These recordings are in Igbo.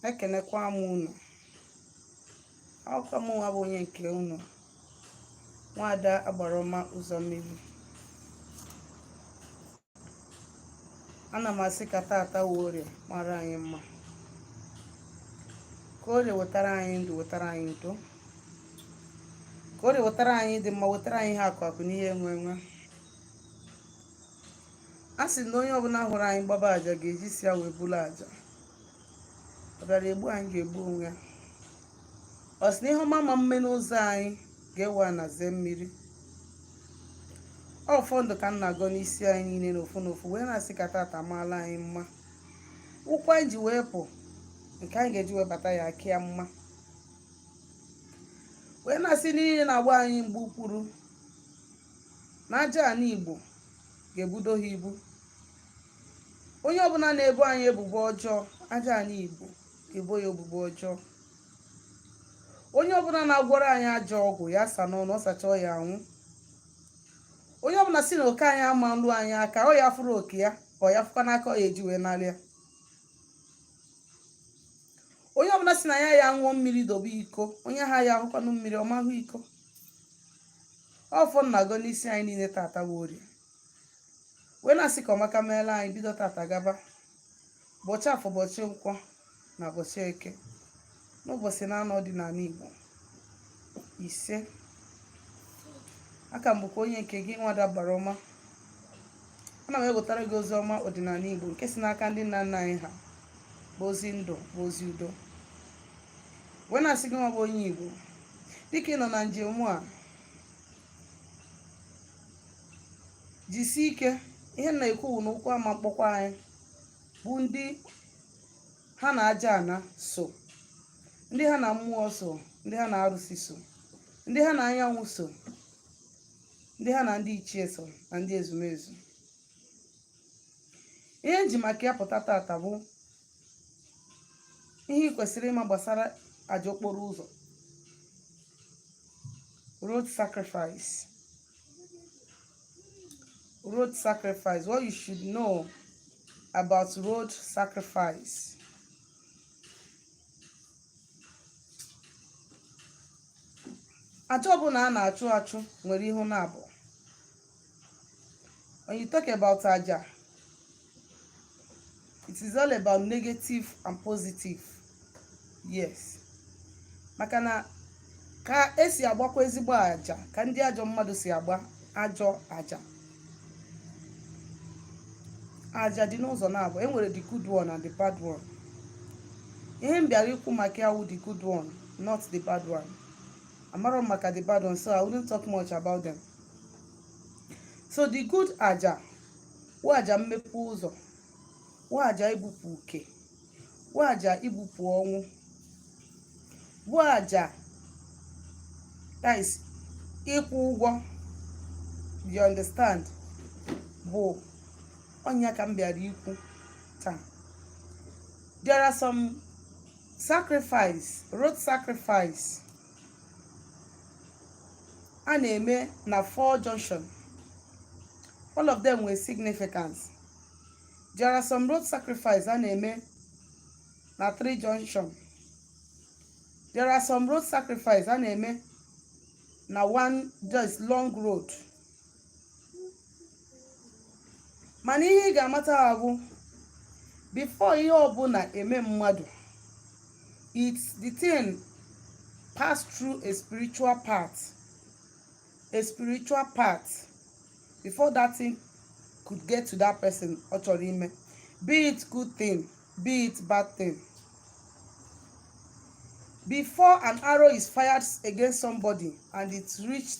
ekenekwa m unu ọkwa mụnwa bụ onye nke unu nwada agbarọma ụzọ mmiri ana m asị ka tata wụ orie mara anyị mma ka orie wetara anyị ndụ wetara anyị udo ka orie wetara anyị ịdị mma wetara anyị ihe akụ akụ na ihe enwe enwe a sị na onye ọbụla hụrụ anyị gbaba aja ga-eji isi ya wee bulu aja ọ bịara egbu anyị ga-egbu onwe ya ọ sị na ihe ọma ama mme n'ụzọ anyị ga-ewe ana zee mmiri ọfọ ndụ ka m na-agọ n'isi anyị niile n'ofu n'ofu wee na-asị ka tata maala anyị mma ụkwụ anyị ji wee pụ nke anyị ga-eji wee bata ya aka ya mma wee na-asị niile na-agba anyị mgba okpuru na aja ana igbo ga-ebudo ha ibu onye ọbụla na-ebo anyị ebubo ọjọọ aja ana igbo ga-ebo ya ebubo ọjọọ onye ọbụla na-agwọrọ anyị ajọ ọgwụ ya sa n'ọnụ ọ sachaa ya anwụ onye ọbụla si na oke anyị ama nlu anyị aka ọ ya fụrụ oke ya ka ọ ya fụkwa n'aka ọ ya eji wee nara ya onye ọbụla si na ya ya ṅụọ mmiri dobe iko onye ahụ ya ahụkwanụ mmiri ọ ma ahụ iko ọfọ m na-agọ n'isi anyị niile tata bụ orie wee na-asị ka ọmaka meela anyị bido tata gaba ụbọchị afọ ụbọchị nkwọ na ụbọchị eke n'ụbọchị naanọ ọdịnala igbo isee a ka m bụkwa onye nke gị nwada agbarọma ana m ewetara gị ozi ọma ọdịnala igbo nke si n'aka ndị nna nna anyị ha bụ ozi ndụ bụ ozi udo wee na-asị gịnwa bụ onye igbo dịka ị nọ na njem a jisie ike ihe m na-ekwu bụ na ụkwụ ama mkpọkwa anyị bụ ndị ha na aja ana so ndị ha na mmụọ so ndị ha na arụsị so ndị ha na anyanwụ so ndị ha na ndị ichie so na ndị ezumezu ihe m ji maka ya pụta tata bụ ihe ị kwesịrị ịma gbasara aja okporo ụzọ road sacrifice road sacrifice what you should know about road sacrifice aja ọbụla a na-achụ achụ nwere ihe ọ na-abụ when you talk about aja it is all about negative and positive yes maka na ka esi agbakwa ezigbo aja ka ndị ajọ mmadụ si agba ajọ aja aja dị n'ụzọ naabọ enwere the good one and the bad one ihe m bịara ikwu maka ya wụ the good one not the bad one amarọ m maka the bad one so i wouldn't talk much about them so the good aja wụ aja mmepe ụzọ wụ aja ibupụ uke wụ aja ibupụ ọnwụ wụ aja that is ịkwụ ụgwọ you understand bụ ọ nya ka m bịara ikwu taa there are some sacrifice road sacrifice a na-eme na four junction all of them nwere significance there are some road sacrifice a na-eme na three junction there are some road sacrifice a na-eme na one just long road mana ihe ị ga-amata bụ bifo ihe ọbụla eme mmadụ it's the thing pass through a spiritual part a spiritual part before that thing could get to that person ọ chọrọ ime be it good thing be it bad thing before an arrow is fired against somebody and it reached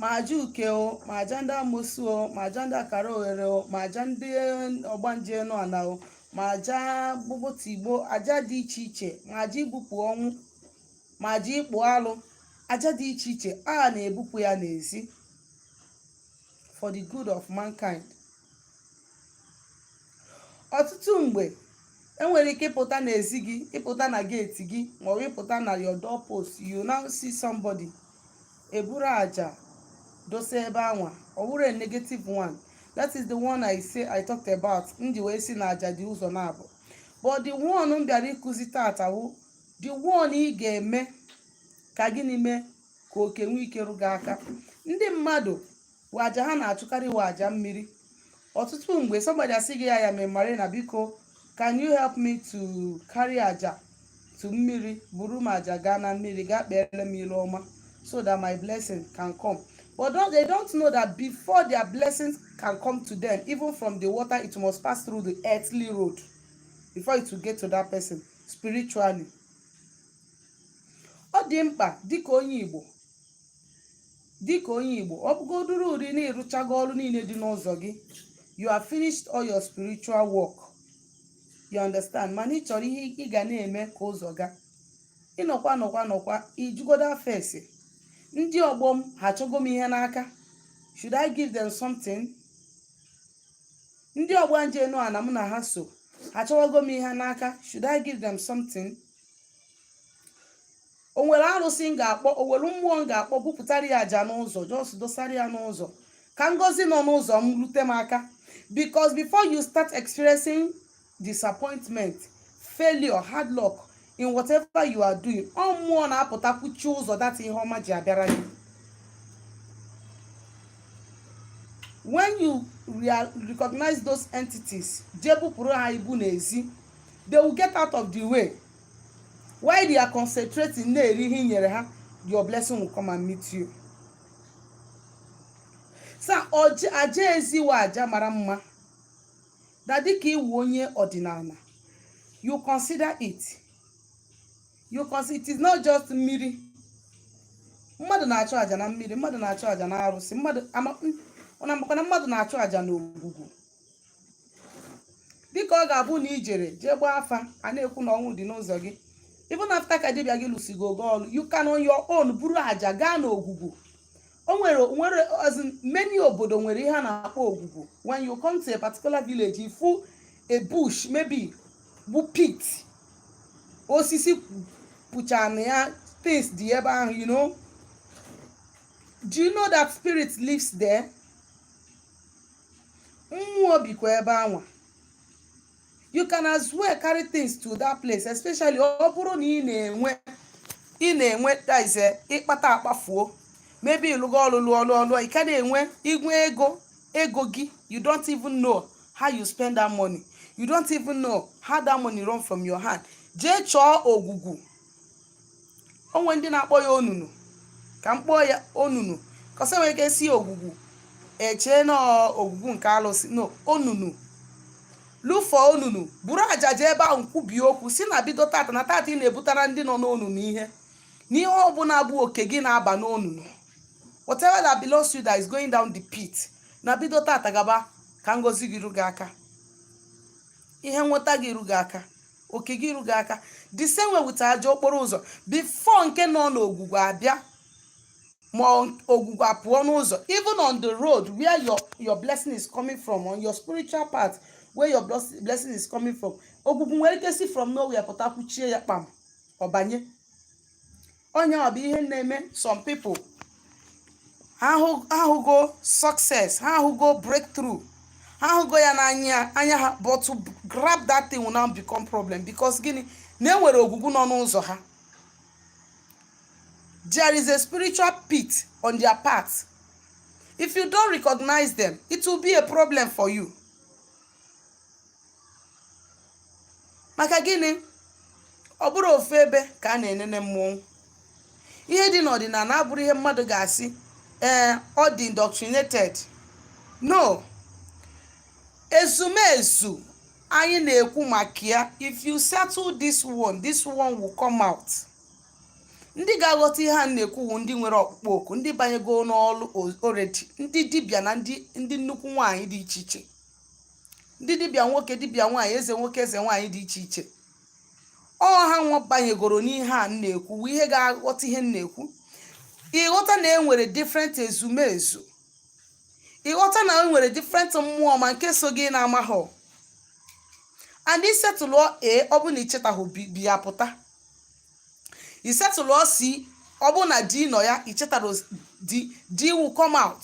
ma aja uke o ma aja ndị amosu o ma aja ndị akara oghere o ma aja ndị ọgbanje enu ana o ma aja gbogbotigbo aja dị iche iche ma aja ibupụ ọnwụ ma aja ịkpụ alụ aja dị iche iche a na-ebupụ ya n'ezi for the good of mankind ọtụtụ mgbe enwere ike ịpụta n'ezi gị ịpụta na geeti gị maọbụ ịpụta na your door post you now see somebody eburu aja dosa ebe anwa ọ wụrụ a negative one that is the one i say i talked about m ji wee sị na aja dị ụzọ naabọ but the one m bịara ịkụzi taata wụ the one ị ga-eme ka gịnị mee ka oke nwee ike ru gị aka ndị mmadụ aja ha na-achụkarị wụ aja mmiri ọtụtụ mgbe somebody asị gị ya ya memari na biko can you help me to carry aja to mmiri buru m aja gaa na mmiri gaa kpeere m ilu ọma so that my blessing can come but don't, they don't know that before their blessings can come to them even from the water it must pass through the earthly road before it will get to that person spiritually ọ dị mkpa dịka onye Igbo ọ bụgodoro ụdị na ị rụchago ọrụ niile dị n'ụzọ gị you have finished all your spiritual work you understand mana ị chọrọ ihe ị ga na-eme ka ụzọ ga ị nọkwa nọkwa nọkwa ị jụgodo afa ese ndị ọgbọ m ha achọgo m ihe n'aka should I give them something ndị ọgbanje enu ana m na ha so ha achọwago m ihe n'aka should I give them something o nwere arụsị m ga-akpọ o nwere mmụọ m ga-akpọ bupụtara ya aja n'ụzọ just dosara ya n'ụzọ ka ngozi nọ n'ụzọ m rute m aka because before you start experiencing disappointment failure hard luck in whatever you are doing ọ mmụọ na-apụta kwụchie ụzọ that ihe ọma ji abịara gị when you real- recognize those entities jee bupụrụ ha ibu n'ezi they will get out of the way while they are concentrating na-eri ihe i nyere ha your blessing will come and meet you so ọja- aja ezi wụ aja mara mma na dịka ị wụ onye ọdịnala you consider it you consider it is not just mmiri mmadụ na-achụ aja na mmiri mmadụ na-achụ aja na arụsị mmadụ ama- ọ na-amakwa na mmadụ na-achụ aja na ogwugwu dịka ọ ga-abụ na i jere jee gbaa afa a na-ekwu na ọnwụ dị n'ụzọ gị even after ka dibịa gị lụsịgo gị ọlụ you can on your own buru aja gaa n'ogwugwu o nwere nwere as in many obodo nwere ihe a na-akpọ ogwugwu when you come to a particular village ị fụ a bush maybe bụ pit osisi pucha na ya things dị ebe ahụ you know do you know that spirit lives there mmụọ bikwa ebe anwa you can as well carry things to that place especially ọ bụrụ na ị na-enwe ị na-enwe this ịkpata akpafuo maybe ị lụgo ọlụ lụọ ọlụ ọlụ ị ka na-enwe igwe ego ego gị you don't even know how you spend that money you don't even know how that money run from your hand jee chọọ ogwugwu o nwe ndị na-akpọ ya onunu ka m kpọọ ya onunu cause e nwere ike sị ogwugwu e chee na ogwugwu nke alụsị no onunu look for onunu buru aja jee ebe ahụ kwubie okwu sị na bido tata na tata ị na-ebutara ndị nọ n'onunu ihe na ihe ọbụla bụ oke gị na-aba n'onunu whatever that belongs to you that is going down the pit na bido tata gaba ka ngozi gị ru gị aka ihe nweta gị ru gị aka oke gị ru gị aka the same way with aja okporo ụzọ before nke nọ n'ogwugwu abịa ma ọ- ogwugwu apụọ n'ụzọ even on the road where your your blessing is coming from on your spiritual path where your bless- blessing is coming from ogwugwu nwere ike si from nowhere pụta kwụchie ya kpam ọ banye ọ nya bụ ihe na-eme some people ha ahụgo success ha ahụgo breakthrough ha ahụgo ya n'anya ha but to grab that thing will now become problem because gịnị na e nwere ogwugwu nọ n'ụzọ ha there is a spiritual pit on their path if you don't recognize them it will be a problem for you maka gịnị ọ bụrọ ofu ebe ka a na-enene mmọnwụ ihe dị n'ọdịnala abụrụ ihe mmadụ ga-asị ee ọ dị indoctrinated no ezumezu anyị na-ekwu maka ya if you settle this one this one will come out ndị ga-aghọta ihe a na-ekwu wụ ndị nwere ọkpụkpọ oku ndị banyego n'ọlụ already ndị dibịa na ndị ndị nnukwu nwaanyị dị iche iche ndị dibịa nwoke dibịa nwaanyị eze nwoke eze nwaanyị dị iche iche ọ ha nwa banyegoro n'ihe a m na-ekwu wụ ihe ga-aghọta ihe m na-ekwu ịghọta na e nwere different ezumezu ịghọta na e nwere different mmụọ ma nke so gị na-amaghọ and isetụlụ a ọ bụ na ichetaghị b b apụta isetụlụ c ọ bụ na d nọ ya ichetarọ d d will come out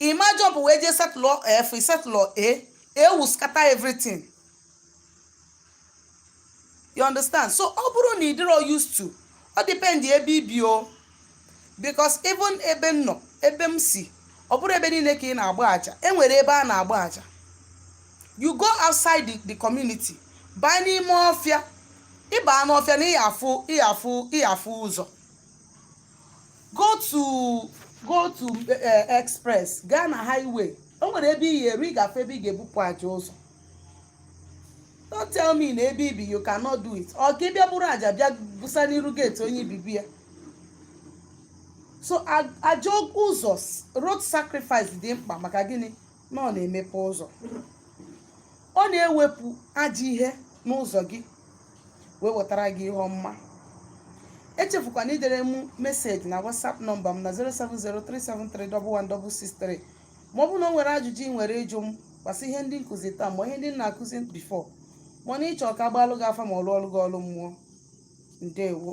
ị maa jump wee jee setụlụ f setụlụ a e will scatter everything you understand so ọ bụrụ na ị dịrọ used to ọ depend ebe ibi o because even ebe m nọ ebe m si ọ bụrọ ebe niile ka ị na-agba aja e nwere ebe a na-agba aja you go outside the, the community baa n'ime ọfịa ịbaa n'ọfịa na ị ya-afụ ị ya-afụ ị ya-afụ ụzọ go to go to eh, express gaa na highway o nwere ebe ị ya-eru ị ga-afụ ebe ị ga-ebupụ aja ụzọ don't tell me na ebe ibi you cannot do it ọ ka ị bịa buru aja bịa busa n'iru gate onye ị bi be ya so a- aja ụzọ s- road sacrifice dị mkpa maka gịnị na ọ na-emepe ụzọ ọ na-ewepụ ajọ ihe n'ụzọ gị wee wetara gị ihe ọma echefukwana idere m meseji na whatsapp nọmba m na 07037311663 ma ọ bụrụ na o nwere ajụjụ ị nwere ịjụ m gbasa ihe ndị m kụzi taa ma ihe ndị m na-akụzi before ma na ịchọ ka a gbalụ gị afa ma ọ lụọlụ gị ọlụ mmụọ ndewo